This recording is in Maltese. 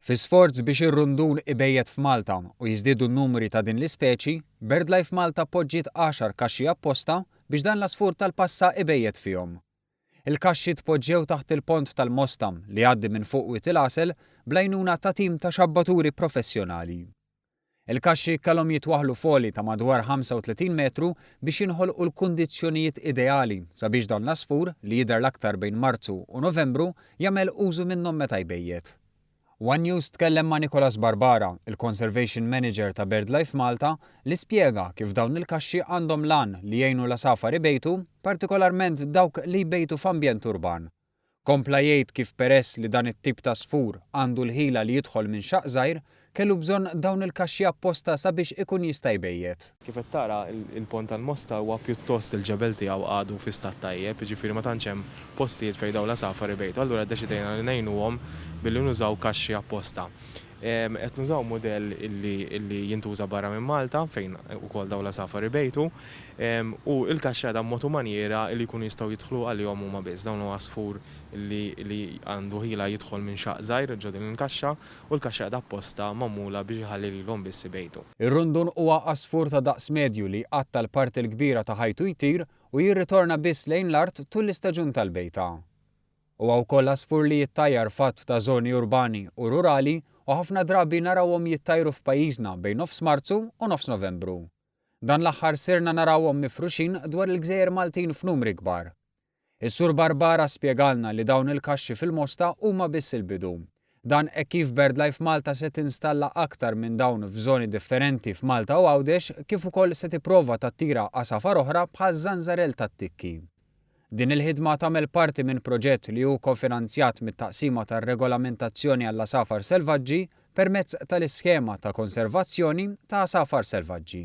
Fi sforz biex ir-rundun ibejjed f'Malta u jiżdiedu n-numri ta' din l-ispeċi, BirdLife Malta poġġiet għaxar kaxxi apposta biex dan l-għasfur tal-passa ibejjed fihom. Il-kaxxi tpoġġew taħt il-pont tal-Mosta li jgħaddi minn fuq Wied il-Għasel bl-għajnuna ta' tim ta' xabbaturi professjonali. Il-kaxxi kellhom jitwaħħlu f'għoli ta' madwar 35 metru biex jinħolqu l-kundizzjonijiet ideali sabiex dan l-għasfur, li jidher l-aktar bejn Marzu u Novembru, jagħmel użu minnhom meta jbejjet. One News tkellem ma' Nicholas Barbara, il-Conservation Manager ta' BirdLife Malta, li spjega kif dawn il-kaxxi għandhom l-għan li jgħinu l-għasafar ibejtu, partikolarment dawk li jbejtu f'ambjent urban. Kompla jgħid kif peress li dan it-tip ta' sfur għandu l-ħila li jidħol minn xaqq żgħir, kellu bżonn dawn il-kaxxi apposta sabiex ikun jista' jbejjet. Kif qed tara, il-Pont tal-Mosta huwa pjuttost il-ġebel tiegħu għadu fi stat tajjeb, jiġifieri ma tantx hemm postijiet fejn dawn l-għasafar ibejtu, allura ddeċidejna li ngħinuhom billi nużaw kaxxi apposta. Qed nużaw mudell illi jintuża barra minn Malta fejn ukoll dawn l-għasafar ibejtu u l-kaxxada b'mod u manjiera li jkunu jistgħu jidħlu għalihom huma biss. Dawn huwa għasfur li għandu ħila jidħol minn xaqq żgħir ġo din il-kaxxa u l-kaxxada apposta magħmula biex iħalli lilhom biss ibejtu. Ir-rundun huwa għasfur ta' daqs medju li jqatta' l-parti l-kbira ta' ħajtu jtir u jirritorna biss lejn l-art tul l-istaġun tal-bejta. Huwa wkoll għasfur li jittajjar f'għadd ta' żoni urbani u rurali u ħafna drabi narawhom jittajru f'pajjiżna bejn nofs Marzu u nofs Novembru. Dan l-aħħar sirna narawhom mifruxin dwar il-gżejjer Maltin f'numri kbar. Is-Sur Barbara spjegalna li dawn il-kaxxi fil-Mosta huma biss il-bidu Dan hekk kif BirdLife Malta se tinstalla aktar minn dawn f'żoni differenti f'Malta u Għawdex kif ukoll se tipprova tattira għasafar oħra bħaż-żanżarell tat-tikki. Din il-ħidma tagħmel parti minn proġett li hu kofinanzjat mit-Taqsima tar-Regolamentazzjoni għall-Għasafar Selvaġġi permezz tal-Iskema ta' Konservazzjoni ta' Għasafar Selvaġġi.